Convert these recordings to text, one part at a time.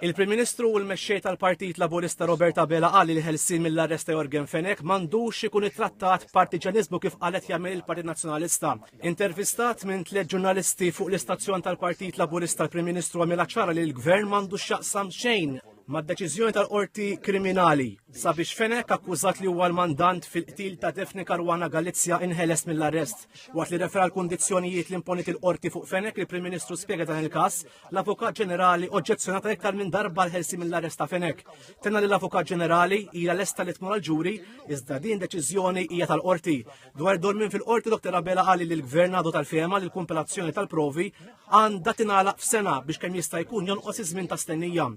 Il-Prim Ministru u l-Mexxej tal-Partit Laburista Robert Abela qal li l-ħelsien mill-arrest ta' Yorgen Fenech m'għandux ikun ittrattat b'partiġġjaniżmu kif qalet jagħmel il-Partit Nazzjonalista. Intervistat minn tliet ġurnalisti fuq l-istazzjon tal-Partit Laburista l-Prim Ministru għamilha ċara li l-Gvern m'għandux x'jaqsam xejn mad-deċiżjoni tal-Qorti Kriminali. Sabiex Fenech, akkużat li huwa l-mandant fil-qtil ta' Daphne Caruana Galizia inħeles mill-arrest. Waqt li refera l-kundizzjonijiet li imponit il-qorti fuq Fenech li Prim Ministru spjega dan il-każ, l-Avukat Ġenerali oġġezzjonata iktar minn darba l-ħelsi mill-arrest ta' Fenech. Tenna li l-Avukat Ġenerali hija lesta li tmur għal ġuri iżda din deċiżjoni hija tal-qorti. Dwar dormin fil-qorti Dr. Abela qali li l-Gvern għadu tal-fema li l-kumpilazzjoni tal-provi għandha tingħalaq f'sena biex kemm jista' jkun jonqos iż-żmien ta' stennija.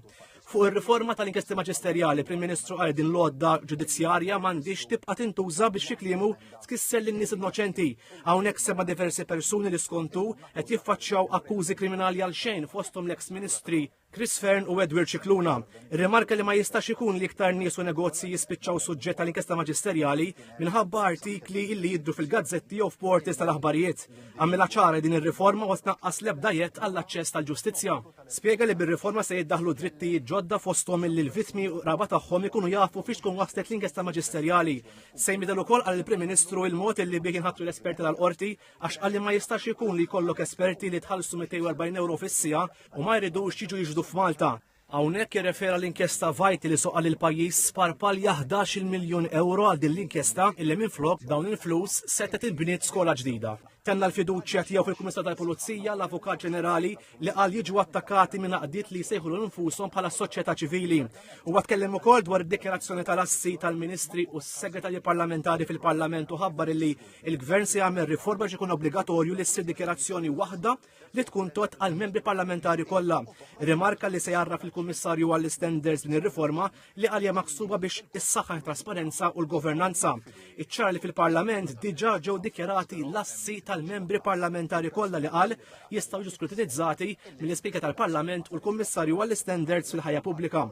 Fuq ir-riforma tal-inkjesti maġisterjali, Prim Ministru qal din l-għodda ġudizzjarja m'għandix tibqa' tintuża biex xi kliemu tkisser lin-nies innoċenti. Hawnhekk sema' diversi persuni li skontu qed jiffaċċjaw akkużi kriminali għal xejn fosthom l-eks ministri Chris Fern u Edward Cicluna. Rimarka li ma jistax ikun li iktar nies u negozji jispiċċaw suġġett tal-inkjesta maġisterjali minħabba artikli illi jiddu fil-gazzetti jew f'portis tal-aħbarijiet. Għamilha ċara din ir-riforma u tnaqqas l-ebda jett għall-aċċess tal-ġustizzja. Spjega li bir-riforma se jiddaħlu drittijiet ġodda fosthom illi l-vittmi u qraba tagħhom ikunu jafu fiex tkun waslet l-inkjesta maġisterjali. Se jmidel ukoll għal il-Prim Ministru il-mod illi bih jinħatru l-esperti tal-qorti għax qalli ma jistax ikun li jkollok esperti li tħallsu 240 euro fis-sija u ma jridux jiġu jiġdu f'Malta. Hawnhekk jirrefera l-inkjesta vajti li soqa lil pajjiż sparpal 11 miljun euro għal din l-inkjesta illi minflok dawn il-flus setgħet inbniet skola ġdida. Tenna l-fiduċja tiegħu fil-Kummissar tal-Pulizija, l-Avukat Ġenerali li qal jiġu attakati minn għaqdiet li jsejħulu nfushom bħala soċjetà ċivili. Huwa tkellem ukoll dwar id-dikjarazzjoni tal-assi tal-Ministri u s-Segretarji Parlamentari fil-Parlament u ħabbar li il-Gvern se jagħmel riforma biex ikun obbligatorju li ssir dikjarazzjoni waħda li tkun tot għal membri parlamentari kollha. Rimarka li se jarraf il-Kummissarju għall-Standards din ir-riforma li għalja maksuba biex is-saħħa trasparenza u l-governanza. Iċċar li fil-Parlament diġà ġew dikjarati l-assi tal-membri parlamentari kollha li qal jistgħu jiġu skrutinizzati mill-Ispika tal-Parlament u l-Kummissarju għall-Standards fil-ħajja pubblika.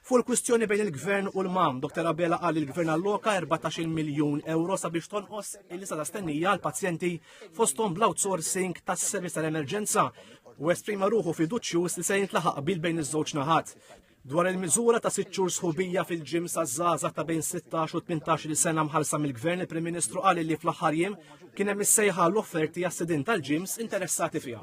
Fu l-kwistjoni bejn il-Gvern u l-MAM, Dr. Abela qal il-Gvern alloka 14 miljun euro sabiex tonqos il-lista ta' stennija għal pazjenti fosthom bl-outsourcing tas-servizz tal-emerġenza u esprima ruħu fiduċjuż li se jintlaħaq bil bejn iż-żewġ naħat. Dwar il-miżura ta' sitt xhur sħubija fil-ġim sa' żgħażagħ ta' bejn 16 u 18 sena mħallsa mill-Gvern il-Prim Ministru qal li fl-aħħar jiem kien hemm is-sejħa l-offerti għas-sidin tal-ġims interessati fiha.